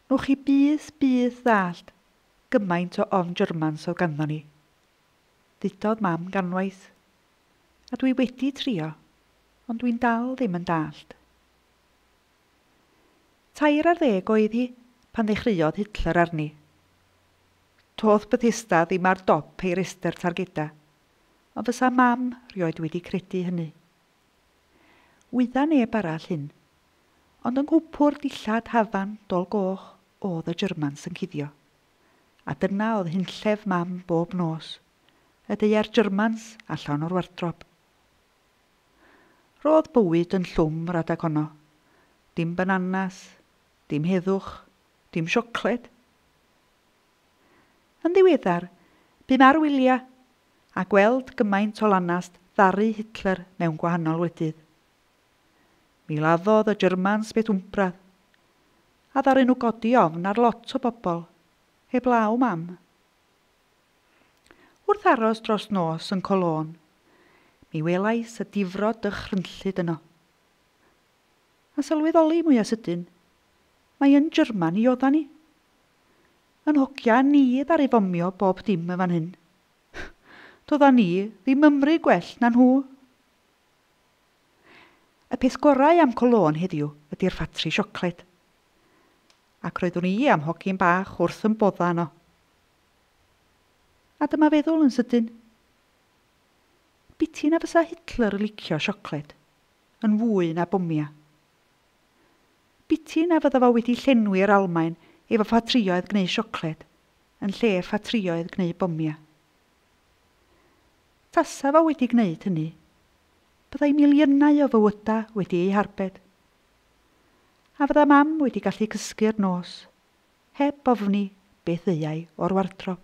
Newch chi byth, byth ddallt gymaint o ofn Germans oedd ganddo ni. Ddudodd Mam ganwaith. A dwi wedi trio, ond dwi'n dal ddim yn dallt. Tair ar ddeg oedd hi pan ddechreuodd Hitler arni. Do'dd Bethesda ddim ar dop ei restr targeda, Ond fysa Mam 'rioed wedi credu hynny. Wydda neb arall hyn. Ond yng nghwpwr dillad hafan Dol Goch o'dd y Germans yn cuddio. A dyna o'dd hunllef Mam bob nos, y deuai'r Germans allan o'r wardrob. R'odd bywyd yn llwm radag honno. Dim bananas, dim heddwch, dim siocled. Yn ddiweddar, bum ar wyliau, a gweld gymaint o lanast ddaru Hitler mewn gwahanol wledydd. Mi laddodd y Germans beth wmpradd, a ddaru nhw godi ofn ar lot o bobl, heblaw 'mam. Wrth aros dros nos yn Cologne, mi welais y difrod dychrynllyd yno. A sylweddoli mwya sydyn, mai yn German i odda ni. Yn hogia a ni ddaru fomio bob dim yn fan hyn. Dodda ni ddim ymry gwell na nhw. Y peth gorau am Cologne heddiw ydi'r ffatri siocled. Ac roeddwn i a'm hogyn bach wrth yn bodda yno. A dyma feddwl yn sydyn. Biti na fysa Hitler yn licio siocled. yn fwy na bomia. Biti na fydda fo wedi llenwi yr Almaen efo ffatrïoedd gneu siocled, yn lle ffatrïoedd gneu bomia. Tasa fo wedi gneud hynny, byddai miliynau o fywyda wedi eu harbed. A fydda mam wedi gallu cysgu yr nos, heb ofni beth ddeuai o'r wardrob.